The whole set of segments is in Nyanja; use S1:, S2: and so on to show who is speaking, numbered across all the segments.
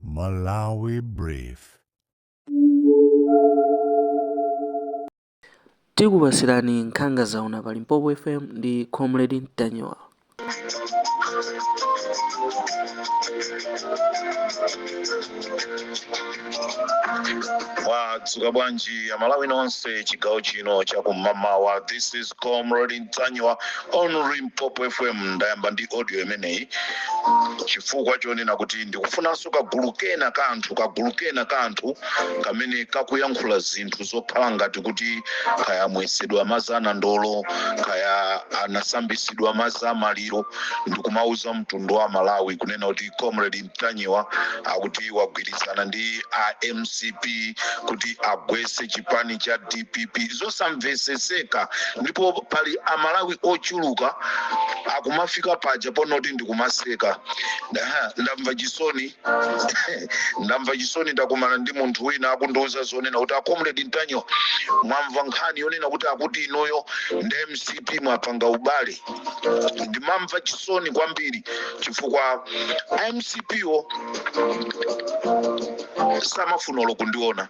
S1: Malawi
S2: Brief. Tikupatsirani nkhanga zaona pa Limpopo FM ndi Comrade Ntanyiwa.
S3: mwadzuka bwanji amalawi nonse chigawo chino chakum'mawa this is comrade mtanyiwa on limpopo fm ndayamba ndi audio imeneyi chifukwa chonena kuti ndikufunanso kagulu kena ka anthu kagulu kena ka anthu kamene kakuyankhula zinthu zokhala ngati kuti kaya amwetsedwa madzi anandolo kaya anasambitsidwa madzi amaliro ndikumauza mtundu wa malawi kunena kuti comrade Ntanyiwa akuti wagwirizana ndi a mcp kuti agwetse chipani cha dpp zosamveseseka ndipo pali amalawi ochuluka akumafika paja ponoti ndikumaseka Aha, ndamva chisoni ndamva chisoni ndakumana ndi munthu wina akundiuza zonena kuti a comrade ntanyiwa mwamva nkhani yonena kuti akuti inuyo ndi mcp mwapanga ubale ndimamva chisoni kwambiri chifukwa a mcpo samafuna olo kundiona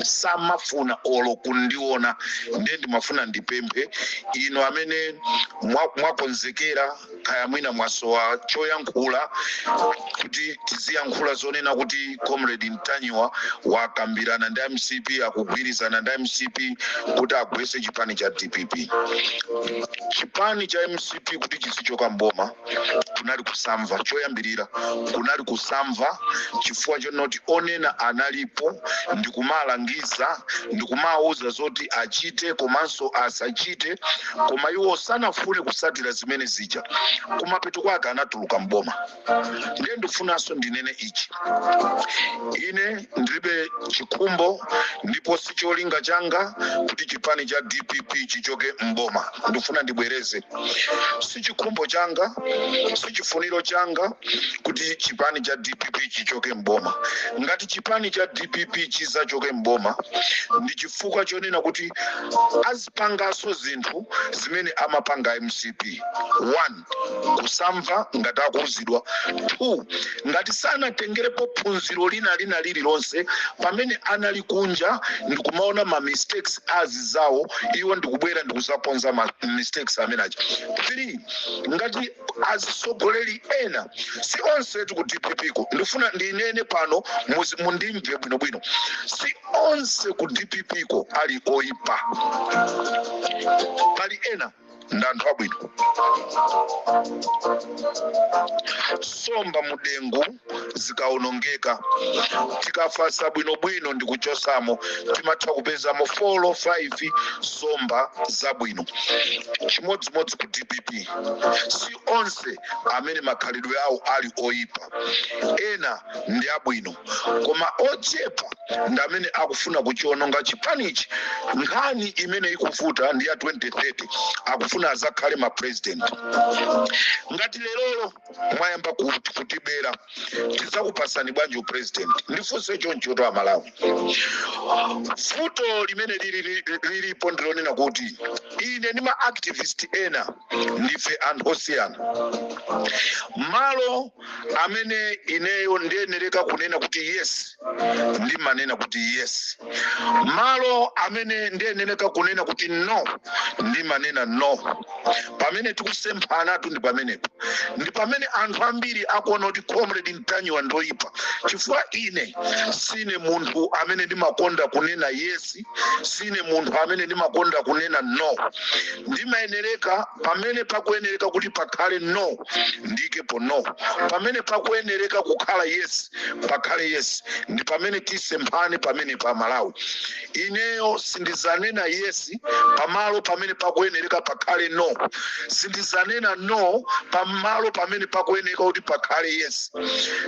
S3: samafuna olo kundiona ndiye ndimafuna ndipemphe inu amene mwa- mwakonzekera kaya mwina mwasowa choyankhula kuti tiziyankhula zonena kuti comrade ntanyiwa wakambirana ndi a mcp akugwirizana ndi a mcp kuti agwetse chipani cha dpp chipani cha mcp kuti chizichoka mboma kunali kusamva choyambirira kunali kusamva chifukwa chonoti onena analipo ndikumalangiza ndikumawuza zoti achite komanso asachite koma iwo sanafune kutsatira zimene zija kumapeto kwake anatuluka mboma ndiye ndifunanso ndinene ichi ine ndilibe chikhumbo ndipo si cholinga changa kuti chipani cha dpp chichoke mboma ndifuna ndibwereze si chikhumbo changa si chifuniro changa kuti chipani cha dpp chichoke mboma ngati chipani cha dpp chizachoke mboma ndi chifukwa chonena kuti azipanganso zinthu zimene amapanga a mcp one kusamva ngati akuuzidwa 2 ngati sanatengerepo phunziro lina lina lililonse pamene anali kunja ndikumaona ma mistakes anzawo iwo ndikubwera ndikuzakonza ma mistakes amene aja 3 ngati azitsogoleri ena si onse ti ku dpp ko ndifuna ndinene pano muzi mundimve bwinobwino si onse ku dpp ko ali oipa pali ena ndi anthu abwino somba mudengu zikaonongeka tikafasa bwinobwino ndi kuchosamo timatha kupezamo 4 or 5 somba zabwino chimodzimodzi ku dpp si onse amene makhalidwe awo ali oyipa ena ndi abwino koma ochepa ndi amene akufuna kuchiononga chipanichi nkhani imene ikuvuta ndi ya 2030 akufuna azakhale ma president ngati leroli mwayamba ku- kutibera tidzakupasani bwanji upresident ndifunse chonchotu amalawi vuto limene lili- lili- lilipo ndilonena kuti ine ndi ma activist ena ndife anthu osiyana malo amene ineyo ndiyenereka kunena kuti yes ndimanena kuti yes malo amene ndiyenereka kunena kuti no ndimanena no pamene tikusemphanatu ndi pamenepo ndi pamene anthu ambiri akuona kuti comrade ntanyiwa ndoyipa chifukwa ine sine munthu amene ndimakonda kunena yes sine munthu amene ndimakonda kunena no ndimayenereka pamene pakuyenereka kuti pakhale no ndikepo no pamene pakuyenereka kukhala yes pakhale yes ndi pamene tisemphane pamene pa malawi ineyo sindizanena yes pamalo pamene pakuyenereka pakhale no sindizanena no pamalo pamene pakuyenereka kuti pakhale yes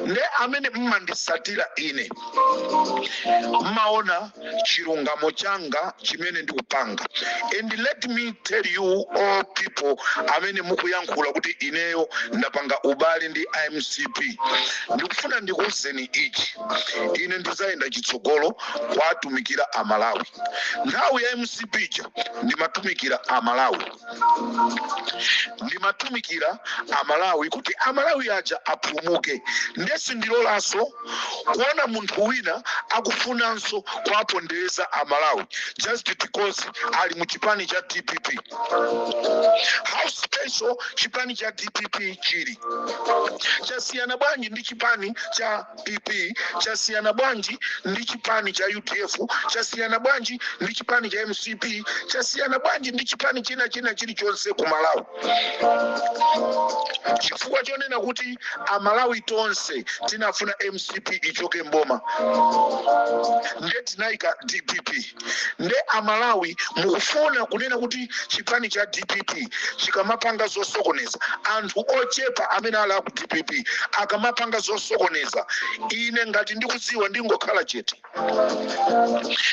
S3: nde amene mmandisatira ine mmaona chilungamo changa chimene ndikupanga and let me tell you all people amene mukuyankhula kuti ineyo ndapanga ubale ndi mcp ndikufuna ndikuwuzeni ichi ine ndizayenda chitsogolo kwatumikira amalawi nthawi ya mcp ija ndimatumikira amalawi ndimatumikira amalawi kuti amalawi aja apulumuke nde sindilolanso kuona munthu wina akufunanso kuwapondereza amalawi just because ali mu chipani cha dpp how special chipani cha dpp chili chasiyana bwanji ndi chipani cha pp chasiyana bwanji ndi chipani cha udf chasiyana bwanji ndi chipani cha mcp chasiyana bwanji ndi chipani china china chilichonse ku malawi chifukwa chonena kuti amalawi tonse tinafuna mcp ichoke mboma nde tinayika dpp nde amalawi mukufuna kunena kuti chipani cha dpp chikamapanga zosokoneza anthu ochepa amene ali aku dpp akamapanga zosokoneza ine ngati ndikudziwa ndingokhala chete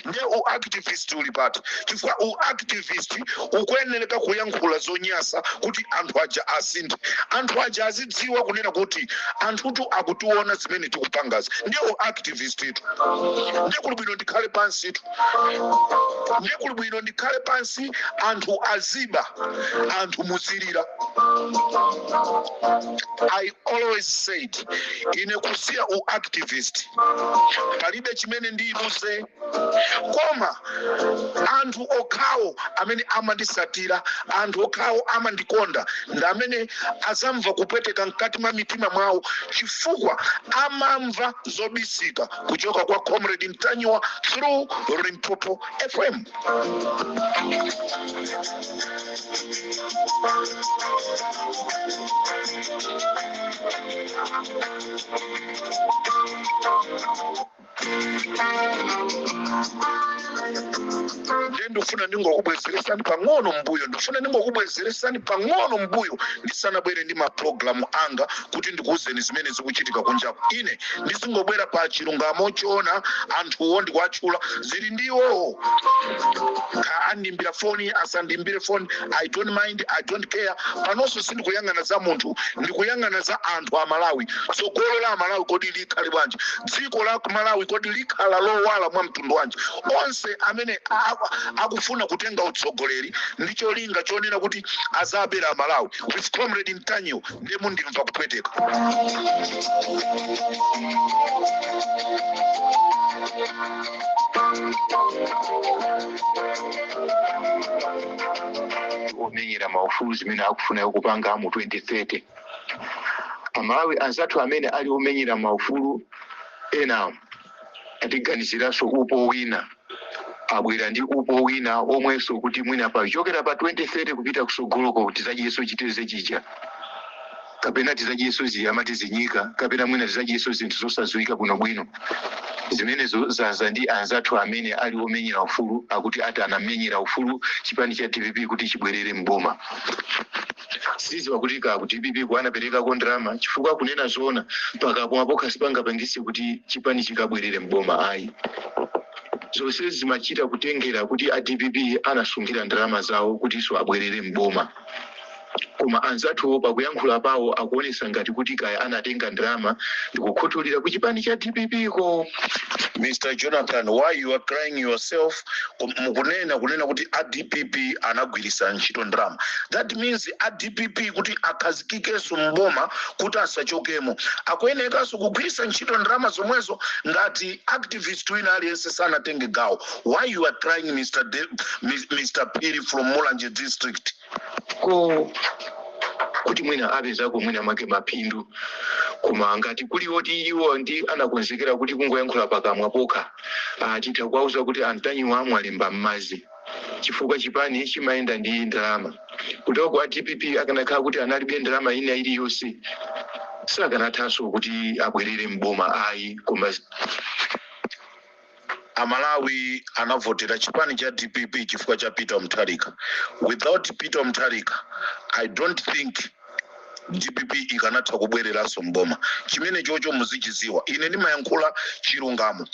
S3: nde u activist uli pati chifukwa u activist ukuyenereka kuyankhula zonyasa kuti anthu aja asinthe anthu aja azidziwa kunena kuti anthutu akutiona zimene tikupangazi nde u activist vist itu ndiye kuli bwino ndikhale pansitu ndiye kuli bwino ndikhale pansi anthu aziba anthu muzilira i always said ine kusiya u activist palibe chimene ndiyiluze koma anthu okhawo amene amandisatira anthu okhawo amandikonda ndi amene azamva kupweteka mkati mwa mitima mwawo chifukwa amamva zobisika kuchoka kwa comrade Ntanyiwa through limpopo fm ndiye ndifuna ndingokubwezeresani pang'ono mbuyo ndifuna ndingokubwezeresani pang'ono mbuyo ndisanabwere ndi mapulogalamu anga kuti ndikuuzeni zimene zikuchitika kunjaku. Ine ndizingobwera pa chilungamo choona anthuwo ndikuwatchula. Zili ndi iwowo. Kaya andiimbira foni, asandiimbire foni, I don't mind, I don't care. Panonso sindikuyang'ana za munthu, ndikuyang'ana za anthu a Malawi. Tsogolo la Malawi kodi likhale bwanji? Dziko la Malawi kodi likhala lowala mwa mtundu wanji? Onse amene a- akufuna kutenga utsogoleri ndi cholinga chonena kuti azabera a Malawi with comrade Ntanyiwa ndiye mundimve
S4: kupweteka omenyera maufulu zimene akufuna kupanga mu 2030 amalawi anzathu amene ali omenyera maufulu ena Atiganiziranso upo wina abwera ndi upo wina omwenso kuti mwina pochokera pa 2030 kupita kusogoloko tizadyeso chiteze chija kapena tizadyeso zi amati zinyika kapena mwina tizadyeso zinthu zosadziwika bwinobwino zimenezo zaza ndi anzathu amene ali omenyera ufulu akuti ati anamenyera ufulu chipani cha dpp kuti chibwerere m'boma sindiziwa kuti kaya ku dpp ku anaperekako ndalama chifukwa kunena zoona pakamwa pokha sipangapangise kuti chipani chikabwerere mboma ayi zonse zimachita kutengera kuti a dpp anasonkhera ndalama zawo kutinso abwerere mboma koma anzathuwo pakuyankhula pawo akuonesa ngati kuti kaya anatenga ndalama ndikukhuthulira ku chipani cha dpp ko Mr.
S3: Jonathan, why you are crying yourself? Kum- mukunena kunena kuti adpp anagwiritsa ntchito ndalama that means adpp kuti akhazikikenso mboma kuti asachokemo akuyenekanso kugwiritsa ntchito ndalama zomwezo ngati activist wina aliyense sanatenge gawo why you are crying mr, De- Mis- mr phiri from mulanje district
S4: ko kuti mwina apezako mwina mwake maphindu koma ngati kuli koti iwo ndi anakonzekera kuti kungoyankhula pakamwa pokha atha kuwauza kuti a Ntanyiwa amwalemba m'madzi chifukwa chipani chimayenda ndi ndalama kuteroko a dpp akanakhala kuti analibe ndalama ina iliyonse sakanathanso kuti abwerere mboma ayi koma
S3: Amalawi anavotera chipani cha dpp chifukwa cha Peter Mutharika. Without Peter Mutharika I don't think dpp ikanatha kubwereranso m'boma. Chimenechocho muzichidziwa. Ine ndimayankhula chilungamo.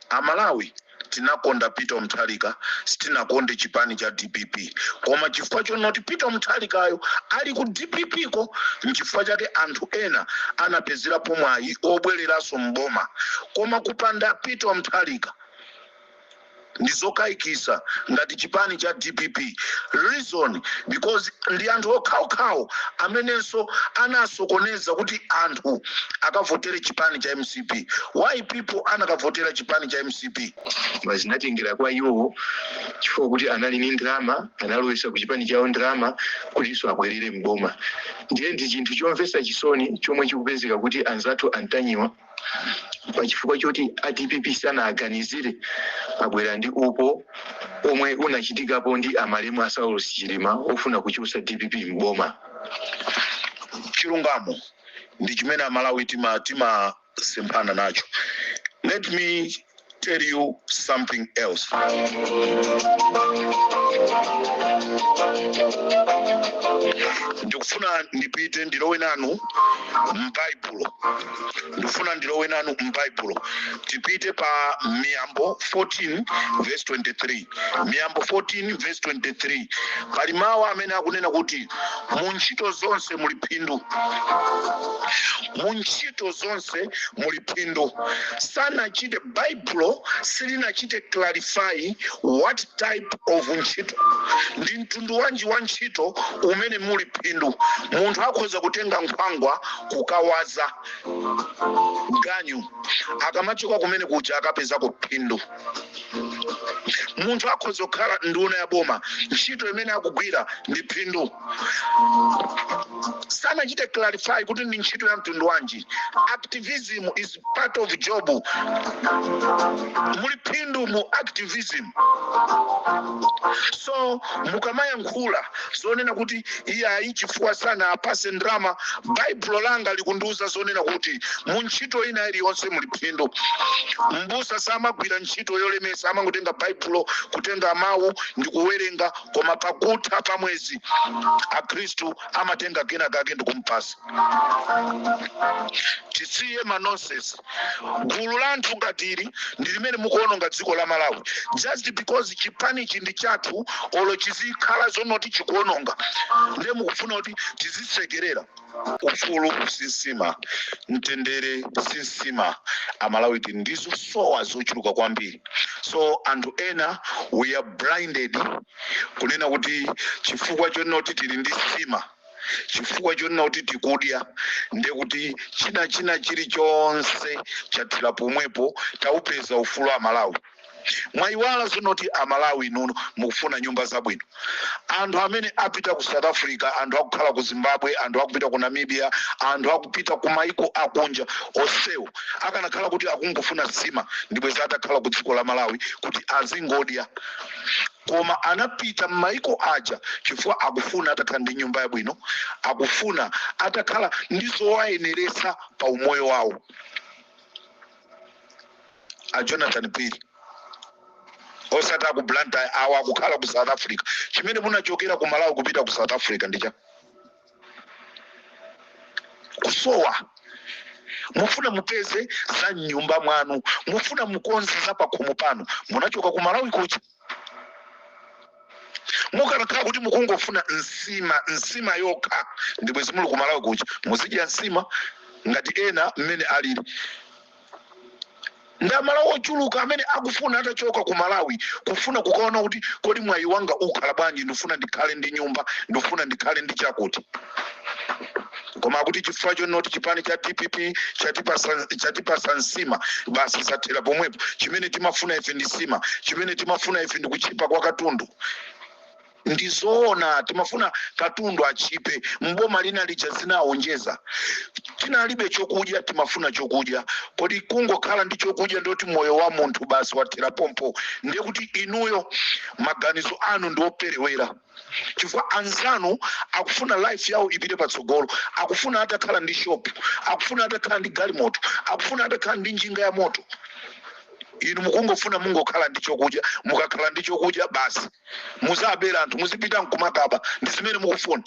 S3: Amalawi tinakonda Peter Mutharika, sitinakonde chipani cha dpp. koma chifukwa chonoti peter mutharikayo ali ku dppko nchifukwa chake anthu ena anapezerapo mwayi obwereranso mboma koma kupanda peter mutharika ndizokayikitsa ngati chipani cha dpp reason because ndi anthu okhaokhawo amenenso anasokoneza kuti anthu akavotere chipani cha mcp why people anakavotera chipani cha mcp koma
S4: zinatengera kwa iwo chifukwa kuti anali ni ndalama analowetsa ku chipani chawo ndalama kutinso abwerere mboma ndiye ndi chinthu chomvetsa chisoni chomwe chikupezeka kuti anzathu a Ntanyiwa pachifukwa choti a dpp sanawaganizire abwera ndi upo omwe unachitikapo ndi amalemu a saulos chilima ofuna kuchotsa dpp mboma chilungamo
S3: ndi chimene amalawi tima tima semphana nacho let me tell you something else ndikufuna ndipite ndilowe nanu m'baibulo ndikufuna ndilowe nanu m'baibulo tipite pa miyambo 14 verse 23 miyambo 14 verse 23 pali mawu amene akunena kuti mu ntchito zonse muli phindu mu ntchito zonse muli phindu sanachite baibulo silinachite clarify what type of ntchito ndi mtundu wanji wa ntchito umene muli phindu munthu akhoza kutenga nkhwangwa kukawaza ganyu akamachoka kumene kuja akapezako phindu munthu akhoza kukhala nduna ya boma ntchito imene akugwira ndi phindu sanachite clarify kuti ndi ntchito ya mtundu wanji activism is part of job muli phindu mu activism so mukamayankhula zonena kuti Iyayi, chifukwa sanawapatse ndalama. Baibulo langa likundiuza zonena kuti mu ntchito ina iliyonse muli phindu. M'busa samagwira ntchito yolemetsa, amangotenga Baibulo, kutenga mau ndi kuwerenga, koma pakutha pa mwezi akhristu amatenga kenakake ndikumpasa. Tisiye ma nonsense. Gulu la anthu ngati ili ndi limene mukuononga dziko la Malawi just because chipanichi ndi chathu olo chizikhala zonoti chikuononga nde mukufuna kuti tizisekerera. Ufulu si nsima, mtendere si nsima, amalawi tili ndi zosowa zochuluka kwambiri so anthu ena we are blinded kunena kuti chifukwa chonoti tili ndi nsima, chifukwa chonena kuti tikudya ndiye kuti china china chilichonse chathera pomwepo taupeza ufulu amalawi mwayiwala zonoti amalawi inuno mukufuna nyumba zabwino anthu amene apita ku south africa anthu akukhala ku zimbabwe anthu akupita ku namibia anthu akupita ku maiko akunja onsewo akanakhala kuti akungofuna nsima ndibweza atakhala ku dziko la malawi kuti azingodya koma anapita m'maiko aja chifukwa akufuna atakhala ndi nyumba yabwino akufuna atakhala ndi zowayeneretsa pa umoyo wawo a jonathan phiri osati a ku blantyre awo akukhala ku south africa chimene munachokera ku malawi kupita ku south africa ndicha kusowa mufuna mupeze za mnyumba mwanu mufuna mukonze za pakhomo panu munachoka ku malawi kuja mukanakhala kuti mukungofuna nsima nsima yokha ndibwezi muli ku malawi kuja muzidya nsima ngati ena mmene alili ndi amalawi ochuluka amene akufuna atachoka ku malawi kufuna kukaona kuti kodi mwayi wanga ukhala bwanji ndifuna ndikhale ndi nyumba ndifuna ndikhale ndi chakuti koma akuti chifukwa chonoti chipani cha dpp chatipasa nsima basi zathera pomwepo chimene timafuna ife ndi nsima chimene timafuna ife ndi kutchipa kwa katundu ndizoona timafuna katundu atchipe mboma lina lija zinaonjeza tinalibe chokudya timafuna chokudya kodi kungokhala ndi chokudya ndiye kuti moyo wa munthu basi wathera pompo ndiye kuti inuyo maganizo anu ndioperewera chifukwa anzanu akufuna life yawo ipite patsogolo akufuna atakhala ndi shop akufuna atakhala ndi galimoto akufuna atakhala ndi njinga ya moto inu mukungofuna mungokhala ndi chokudya mukakhala ndi chokudya basi muzabera anthu muzipita nkumakaba ndi zimene mukufuna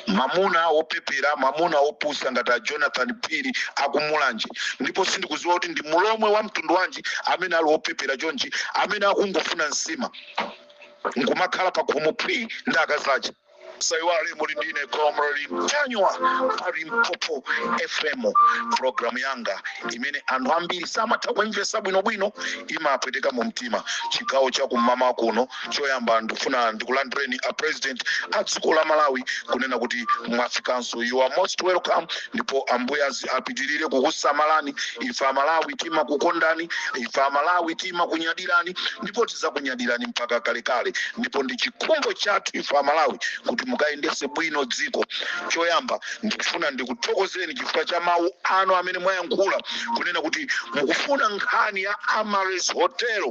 S3: mamuna opepera mamuna opusa ngati a jonathan phiri akumulanje ndipo sindikuziwa kuti ndi mulomwe wa mtundu wanji amene ali wopepera chonchi amene akungofuna nsima nkumakhala pakhomo phwi ndi akazake saiwale muli ndine comrade Ntanyiwa pali mpopo fm programu yanga imene anthu ambiri samatha kuimvesa bwinobwino imapweteka mu mtima chigawo cha kum'mawa kuno choyamba ndikufuna ndikulandireni a president a dziko la malawi kunena kuti mwafikanso you are most welcome ndipo ambuye azipitirire kukusamalani ife amalawi timakukondani ife amalawi timakunyadirani ndipo tizakunyadirani mpaka kalekale ndipo ndi chikhumbo chathu ife amalawi kuti mukayendese bwino dziko choyamba ndikufuna ndikuthokozeni chifukwa cha mawu anu amene mwayankhula kunena kuti mukufuna nkhani ya Amaryllis hotel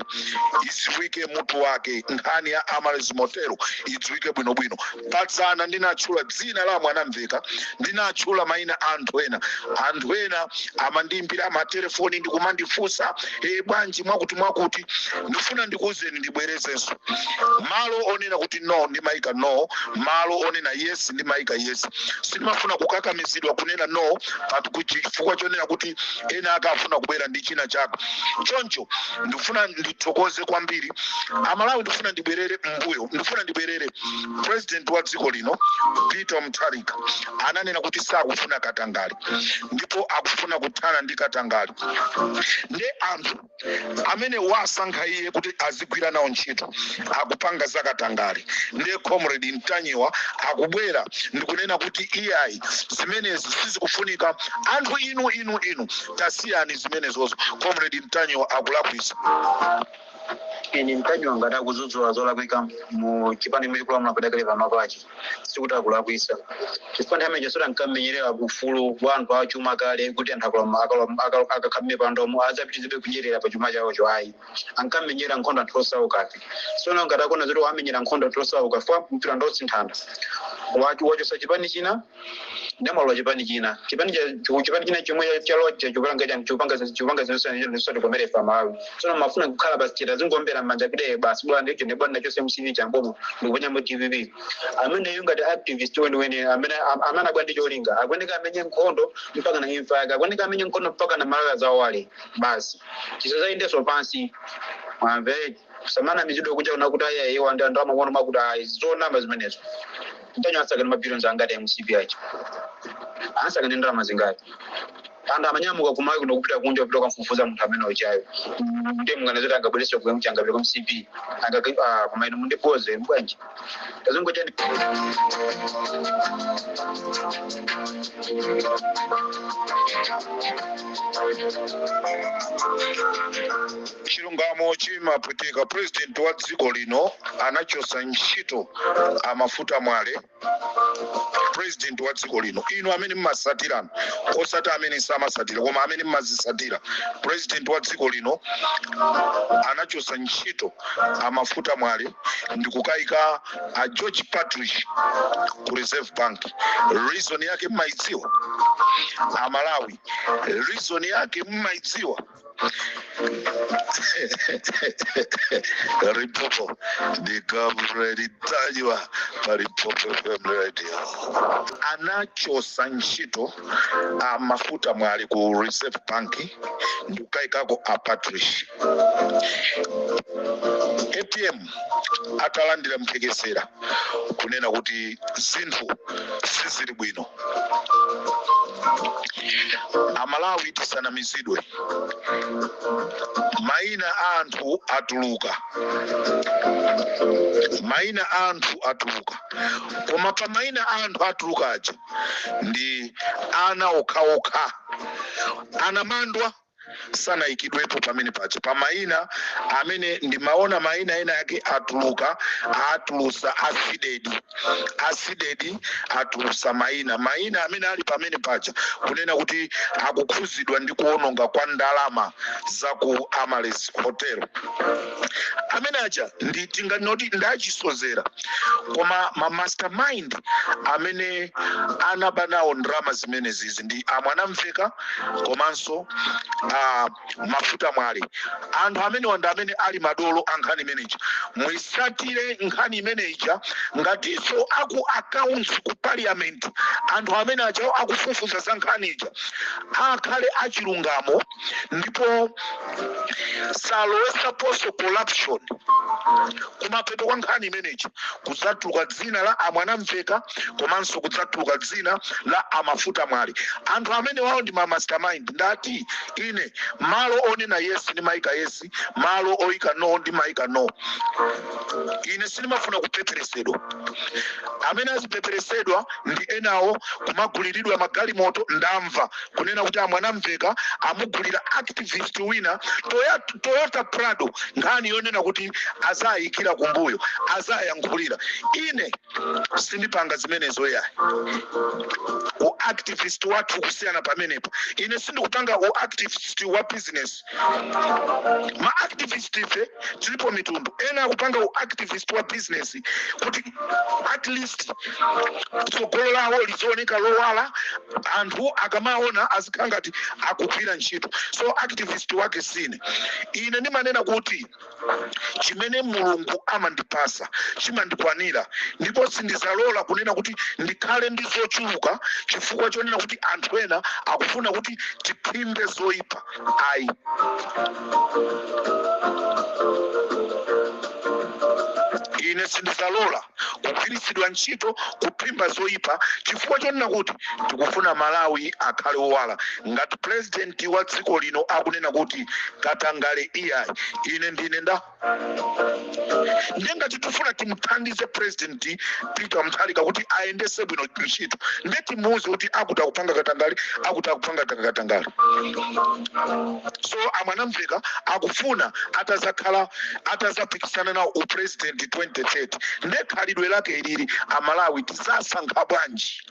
S3: idziwike mutu wake nkhani ya Amaryllis hotel idziwike bwinobwino Pa dzana ndinatchula dzina la Mwanamveka, ndinatchula maina a anthu ena. Anthu ena amandiimbira matelefoni ndi kumandifunsa, ee, bwanji mwakuti mwakuti? Ndifuna ndikuuzeni ndibwerezenso. Malo onena kuti no ndimaika no, malo onena yes ndimaika yes. Sindimafuna kukakamizidwa kunena no pa chifukwa chonena kuti ena akufuna kubwera ndi china chake. Choncho ndifuna ndithokoze kwambiri Amalawi, ndifuna ndibwerere m'mbuyo, ndifuna ndibwerere. President wa dziko lino Peter Mutharika ananena kuti sakufuna katangale ndipo akufuna kuthana ndi katangale nde anthu amene wasankha iye kuti azigwira nawo ntchito akupanga za katangale nde comrade Ntanyiwa akubwera ndikunena kuti iyayi zimenezi sizikufunika anthu inu inu inu tasiyani zimenezozo comrade Ntanyiwa akulakwisa
S5: ine Ntanyiwa ngati akudzudzula zolakwika mu chipani chimene chikulamula padakali pano pachi sikuti akulakwisa chifukwa nthawi imene chasota mkammenyerera ufulu wa anthu achuma kale kuti anthu akalama- akalama- aka- akakhala mmipandomo adzapitirizebe kunyerera pa chuma chawocho ayi ankamenyera nkhondo anthu osaukafe sono ngati akuona zoti wamenyera nkhondo anthu osaukafe mpirando osinthana wacho- wachosa chipani china ndawalola chipani china chipani cha chu- chipani china chomwe cha- chalowacho chikupanga chani chikupanga zi- chikupanga zinthu zosiyana zinthu zosatikomera amalawi tsono mumafuna akhale basi chita zingombera m'manja kide basi bwana ndicho ne bwana chose mcp chambomo ndikuponya mu dpp ameneyo ngati activist weniweni amene am- amene abwera ndi cholinga akuoneka amenye nkhondo mpaka na imfa yake akuoneka amenye nkhondo mpaka na malawi azawale basi chisazayendeso pansi mwamve musamanamizidwe kuja kunena kuti aya iwo ndi anthu amakono makuti ayi zonama zimenezo ntanyiwa asakaza mabilions angati ya mcp aja asakaza ndalama zingati anthu amanyamuka kumalawi kuno kupita kunja kupita kukamfufuza munthu amene ujayo ndiye munganazoti angabwereso kuyamuchangapita kwa mcp angaka kumayi mundipoze mbwanji Tazungojani.
S3: chilungamo chimapweteka purezidenti wa dziko lino anachosa ntchito amafuta mwale purezidenti wa dziko lino inu amene mmasatiranu osati amene samasatira koma amene mmazisatira purezidenti wa dziko lino anachosa ntchito amafuta mwale ndikukaika a george partridge ku reserve bank reason yake mmaidziwa amalawi reason yake mmaidziwa limpopo ndi comrade ntanyiwa pa limpopo fm radio anachosa ntchito amafuta mwale ku reserve bank ndikukayikako a partridge apm atalandira mphekesera kunena kuti zinthu sizili bwino amalawi tisanamizidwe maina a anthu atuluka maina a anthu atuluka koma pa maina a anthu atuluka aja ndi ana okhaokha anamandwa sanayikidwepo pamene paja pa mayina amene ndimaona mayina ena ake atuluka atulusa a cdedi a cdedi atulusa mayina mayina amene ali pamene paja kunena kuti akukhuzidwa ndi kuononga kwa ndalama za ku amaryllis hotel amene aja ndi tinganoti ndi achisozera koma ma mastermind amene anaba nawo ndalama zimenezizi ndi amwanamvekha komanso amafuta mwale anthu amenewa ndi amene ali madolo a nkhani imeneja muisatire nkhani imeneja ngatinso aku accounts ku parliament anthu amene ajawo akufufuza za nkhani ija akhale achilungamo ndipo asaloweseponso corruption kumapeto kwa nkhani imeneyi kudzatuluka dzina la amwanamvekha komanso kudzatuluka dzina la amafuta mwale anthu amenewawo ndi ma mastermind ndati ine malo onena yes ndimaika yes malo oyika no ndimayika no ine sindimafuna kupeperesedwa amene azipeperesedwa ndi enawo kumaguliridwa magalimoto ndamva kunena kuti a Mwanamveka amugulira activist wina Toyota prado nkhani yonena kuti azayikira kumbuyo azayankhulira ine sindipanga zimenezo yayi uactivist wathu kusiyana pamenepo ine sindikupanga uactivist wa business ma activist ife tilipo mitundu ena akupanga u activist wa business kuti at least tsogolo lawo liziwoneka lowala anthu akamaona azikhala ngati akugwira ntchito so activist wake sine ine ndimanena kuti chimene mulungu amandipasa chimandikwanira ndipo sindizalola kunena kuti ndikhale ndi zochuluka chifukwa chonena kuti anthu ena akufuna kuti tiphimbe zoyipa ayi ine sindizalola kugwiritsidwa ntchito kuphimba zoyipa chifukwa chonena kuti tikufuna Malawi akhale owala. Ngati pulezidenti wa dziko lino akunena kuti katangale iyayi, ine ndine nda ndiye ngati tifuna timuthandize pulezidenti Peter Mutharika kuti ayendese bwino ntchito ndiye timuwuze kuti akuti akupanga katangale akuti akupanga katangale so a Mwanamveka akufuna atazakhala atazapikisana nawo u president 2030 nde khalidwe lake ilili amalawi tizasankha bwanji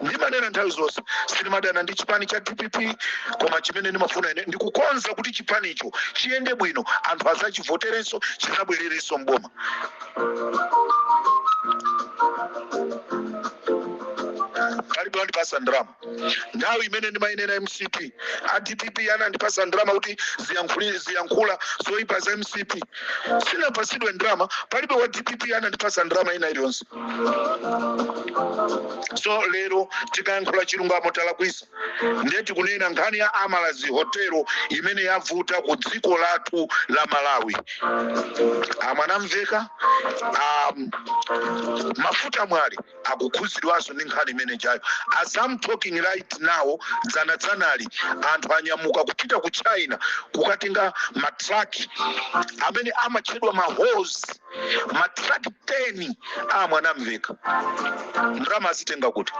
S3: ndimanena nthawi zonse sinimadana ndi chipani cha dpp koma chimene ndimafuna ine ndikukonza kuti chipanicho chiyende bwino anthu azachivoterenso chizabwererenso mboma palibe wandipasa ndalama nthawi imene ndimayinena mcp a dpp anandipasa ndalama kuti ziyankhuli- ziyankhula zoyipa za mcp sinapasidwe ndalama palibe wa dpp anandipasa ndalama ina iliyonse so lero tikayankhula chilungamo talakwisa ndiye tikunena nkhani ya Amaryllis hotelo imene yavuta ku dziko lathu la malawi a Mwanamveka a Mafuta Mwale akukhudzidwanso ndi nkhani imene ijayo as I'm talking right now dzana dzanali anthu anyamuka kupita ku china kukatenga matraki amene amatchedwa mahos matraki 10 a Mwanamveka ndalama azitenga kuti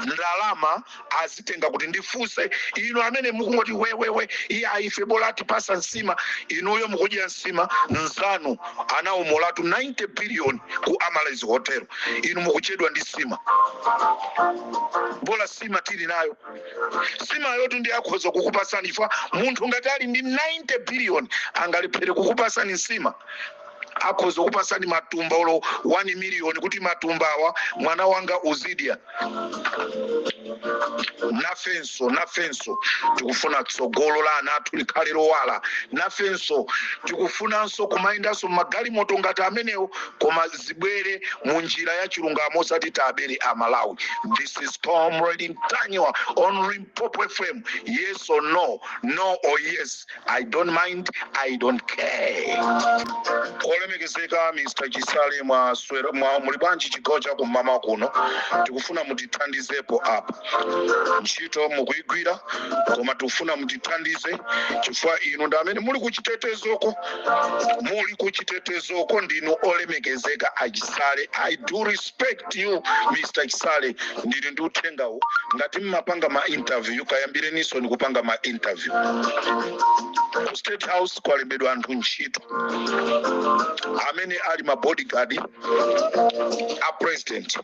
S3: ndalama azitenga kuti ndifunse inu amene mukungoti wewewe iya ife bola atipasa nsima inuyo mukudya nsima nzanu anawomolatu 90 billion ku amaryllis hotel inu mukuchedwa ndi sima bola sima tili nayo sima yotu ndi akhoza kukupasani chifukwa munthu ngati ali ndi 90 billion angalephere kukupasani nsima akhoza kupatsani matumba olo 1 miliyoni kuti matumba awa mwana wanga uzidya nafenso nafenso tikufuna tsogolo la ana athu likhale lowala nafenso tikufunanso kumayendanso magalimoto ngati amenewo koma zibwere mu njira ya chilungamo osati tabere a malawi this is comrade ntanyiwa on limpopo fm yes or no no or yes I don't mind, I don't care. Olemekezeka Mr. Chisale mwaswera mwa muli bwanji chigawo cha kummawa kuno tikufuna mutithandizepo apa ntchito mukuigwira koma tikufuna mutithandize chifukwa inu ndi amene muli kuchitetezoko muli kuchitetezoko ndinu olemekezeka a Chisale I do respect respect you mr chisale ndili ndi uthengawu ngati mmapanga ma interview kayambireninso ndikupanga ma interview ku state house kwalembedwa anthu ntchito amene ali ma bodyguard a president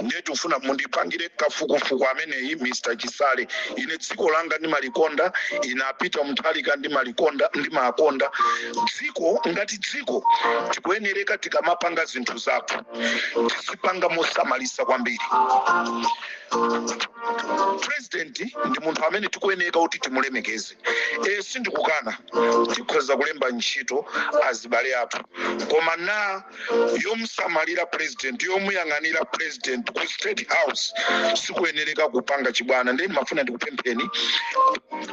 S3: ndiye tikufuna mundipangire kafukufuku ameneyi mr chisale ine dziko langa ndimalikonda ine a peter mutharika ndimawakonda ndimakonda dziko ngati dziko tikuyenereka tikamapanga zinthu zathu tizipanga mosamalisa kwambiri president ndi munthu amene tikuyeneka kuti timulemekeze e, sindikukana tikhoza kulemba ntchito azibale athu koma na yomusamalira president yomuyang'anira president ku state house sikuyenereka kupanga chibwana ndiye ndimafuna ndikupempheni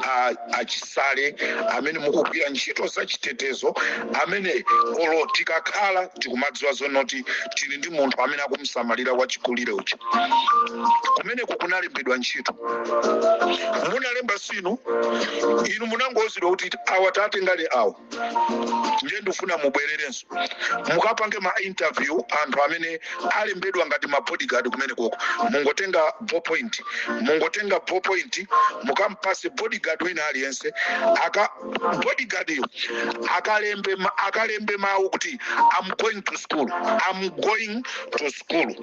S3: a- a chisale amene mukugwira ntchito zachitetezo amene olo tikakhala tikumadziwa zonoti tili ndi munthu amene akumusamalira wachikulire uja kumeneko kunalembedwa ntchito munalemba sinu inu munangouzidwa kuti awa tatengereni awa ndiye ndifuna mubwererenso mukapange ma interview anthu amene alembedwa ngati ma bodyguard kumenekoko mungotenga ballpoint mungotenga ballpoint mukampase bodyguard wina aliyense aka bodyguardyo akalembe ma- akalembe mawu kuti i'm going to school i'm going to school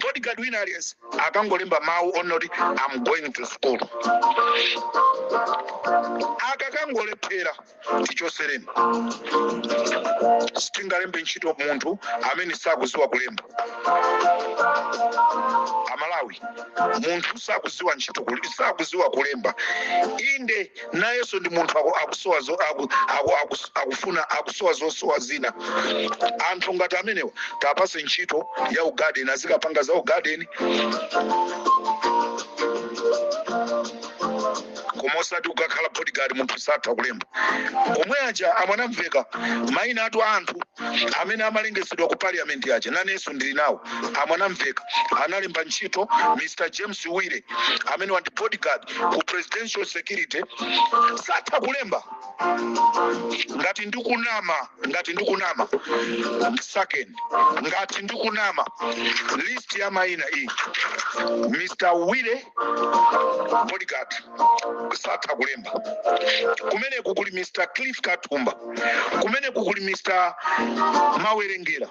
S3: bodyguard wina aliyense akangolemba mawu onena kuti am going to school akakangolephera tichotsereni sitingalembe ntchito munthu amene sakuziwa kulemba amalawi munthu sakuziwa ntchito kuli- sakuziwa kulemba inde nayenso ndi munthu aku- akusowa zo- aku- aku- aku- akufuna akusowa zosowa zina anthu ngati amenewa tapase ntchito ya ugadeni azikapanga za ugadeni koma osati kukakhala bodyguard munthu satha kulemba omwe aja a mwanamvekha maina a anthu amene amalengezedwa ku parliament aja nanenso ndili nawo a mwanamvekha analemba ntchito mr james wire amenewa ndi bodyguard ku presidential security satha kulemba ngati ndikunama ngati ndikunama second ngati ndikunama list ya maina iyi mr wire bodyguard satha kulemba kumeneku kuli mr cliff katumba kumeneku kuli mr mawerengera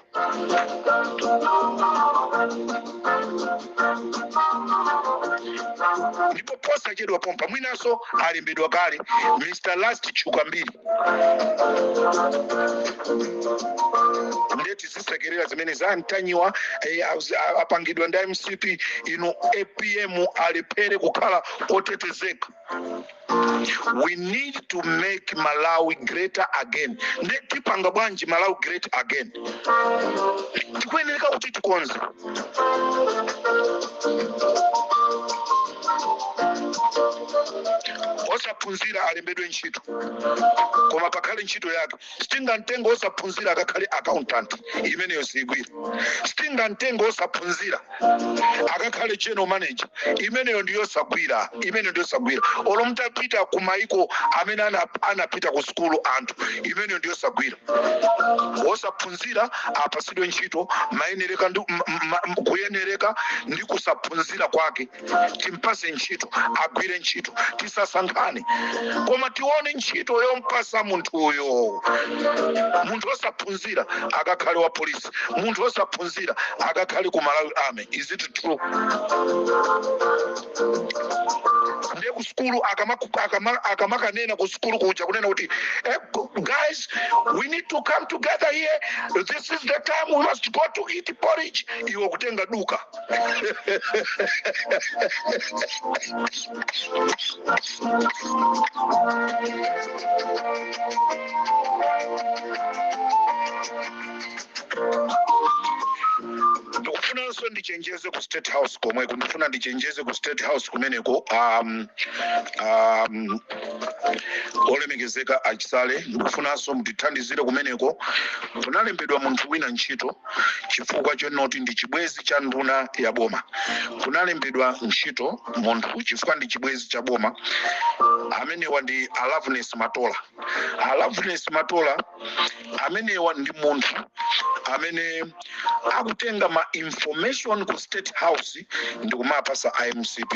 S3: ndipo posachedwa pompa mwinanso alembedwa kale mr last chukambiri ndeti zisekerera zimene zamtanyiwa eh, auzi- a- apangidwa ndi mcp inu apm alephere kukhala otetezeka we need to make malawi greater again nde tipanga bwanji malawi great again tikuyeneka kuti tikonze osaphunzira alembedwe ntchito koma pakhale ntchito yake sitingamtenge wosaphunzira akakhale accountant imeneyo siigwira sitingamtenge wosaphunzira akakhale general manager imeneyo ndiyosagwira imeneyo ndiyosagwira olo mutapita ku maiko amene ana- anapita ku sukulu anthu imeneyo ndiyosagwira wosaphunzira apasidwe ntchito mayenereka ndi m- m- m- kuyenereka ndi kusaphunzira kwake timpase ntchito agwire ntchito tisasankhane koma tione ntchito yompasa munthuyo munthu osaphunzira akakhale wa polisi munthu osaphunzira akakhale ku malawi army is it true ndiye ku sukulu akamaku- akama- akamakanena ku sukulu kuja kunena kuti eh, go- guys we need to come together here this is the time we must go to eat porridge iwe kutenga luka ndikufunanso ndichenjeze ku state house komweko ndifuna ndichenjeze ku state house kumeneko um, um, olemekezeka a chisale ndikufunanso mutithandizire kumeneko kunalembedwa munthu wina ntchito chifukwa chonoti ndi chibwezi cha nduna ya boma kunalembedwa ntchito munthu chifukwa ndi chibwezi cha boma amenewa ndi a loveness matola a loveness matola amenewa ndi munthu amene akutenga ma information ku state house ndikumapasa a mcp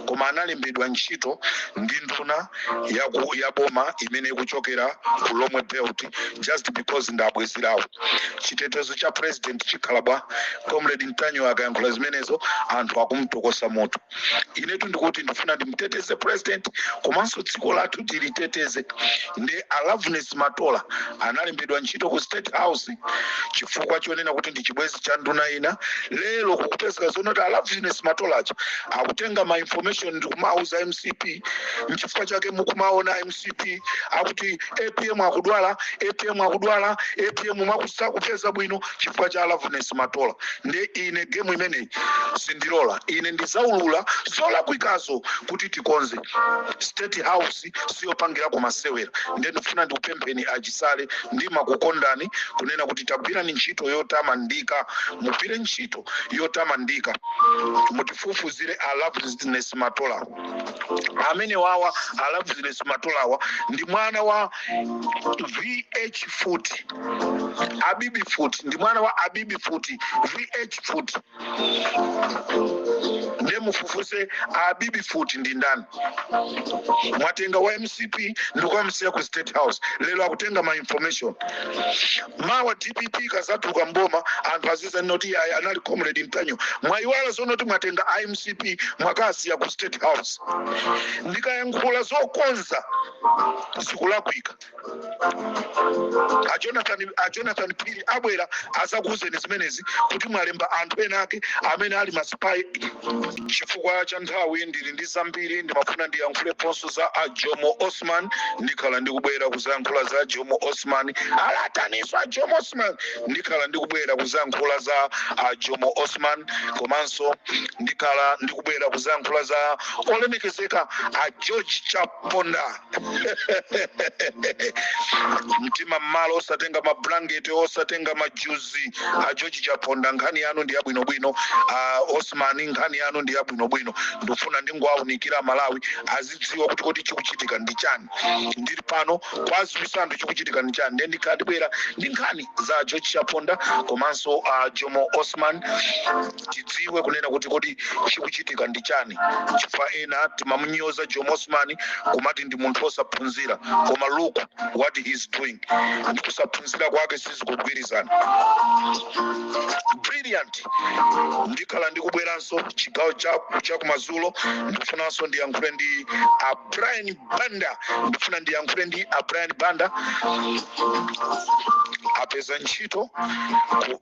S3: koma analembedwa ntchito ndi nduna yaku- ya boma imene ikuchokera ku lomwe belt just because nda bwezi lawo chitetezo cha president chikhala bwa comrade ntanyiwa akayankhula zimenezo anthu akumtokosa moto inetu ndikuti ndifuna ndimteteze president komanso dziko lathu tiliteteze ndi a loveness matola analembedwa ntchito ku state house chifukwa chonena kuti ndi chibwezi cha nduna ina lero kukupezeka zonoti a loveness matolacha akutenga ma information ndikumauza mcp nchifukwa chake mukumaona mcp akuti apm akudwala apm akudwala apm mwakuti sakupeza bwino chifukwa cha a loveness matola nde ine gemu imeneyi sindilola ine ndizaulula zolakwikazo kuti tikonze state house siyopangirako masewera nde ndifuna ndikupempheni a chisale ndimakukondani kunena kuti tagwirani ntchito yotamandika mugwire ntchito yotamandika mutifufuzire a loveness matola amenewawa a loveness matolawa ndi mwana wa vh foot abibi foot ndi mwana wa abibi foot vh foot nde mufufuze abibi foot ndi ndani mwatenga wa mcp ndikukamsiya ku state house lero akutenga ma information mawa dpp ikazatuluka mboma anthu azizanena kuti ayi anali comrade ntanyiwa mwayiwala zonena kuti mwatenga a mcp mwakasiya ku state house ndikayankhula zokonza zikulakwika a jonathan a jonathan phiri abwera azakuuzeni zimenezi kuti mwalemba anthu ena ake amene ali masipayi chifukwa cha nthawi ndili ndi zambiri ndimafuna ndiyankhuleponso za a jomo osman ndikhala ndikubwera kuzayankhula za jomo osman alataniso a jomo osman ndikhala ndikubwera kuzayankhula za a jomo osman komanso ndikhala ndikubwera kuzayankhula za olemekezeka a george chap ponda mtima mmalo osatenga mablanketi osatenga majuzi a george chaponda nkhani yanu ndi yabwinobwino a osman nkhani yanu ndi yabwinobwino ndikufuna ndingowaunikira amalawi azidziwa kuti kodi chikuchitika ndi chani ndili pano kwa azibisanthu chikuchitika ndi chani ndiye ndikhala ndibwera ndi nkhani za george chaponda komanso a jomo osman tidziwe kunena kuti kodi chikuchitika ndi chani chifukwa ena timamunyoza jomo osman kumati ndi munthu osaphunzira koma look what he is doing ndi kusaphunzira kwake sizikugwirizana brilliant ndikhala ndikubweranso chigawo cha chakumazulo ndikufunanso ndiyankhule ndi a brian banda ndikufuna ndiyankhule ndi a brian banda apeza ntchito ku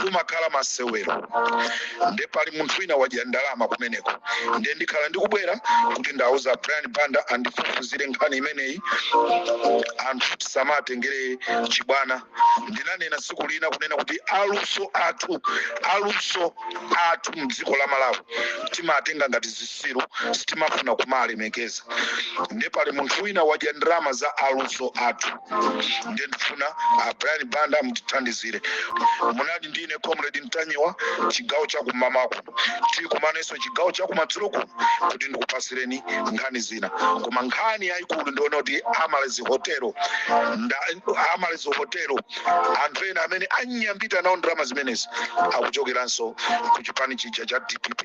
S3: kumakhala masewero nde pali munthu wina wadya ndalama kumeneko nde ndikhala ndikubwera kuti ndauza brian banda andifufuzire nkhani imeneyi anthu tisamatengere chibwana ndinanena tsiku lina kunena kuti aluso athu aluso athu mdziko la malawi timatenga ngati zisiru sitimafuna kumalemekeza nde pali munthu wina wadya ndalama za aluso athu ndiye ndifuna a brian banda mutithandizire munali ndine comrade ntanyiwa chigawo chakummawaku tikumanenso chigawo chakumadzulo kuno kuti ndikupasireni nkhani zina koma nkhani yayikulu ndi yonena kuti amaryllis hotelo nda- amaryllis hotelo anthu ena amene anyambita nawo ndalama zimenezi akuchokeranso ku chipani chija cha dpp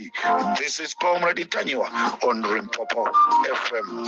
S3: this is comrade ntanyiwa on limpopo fm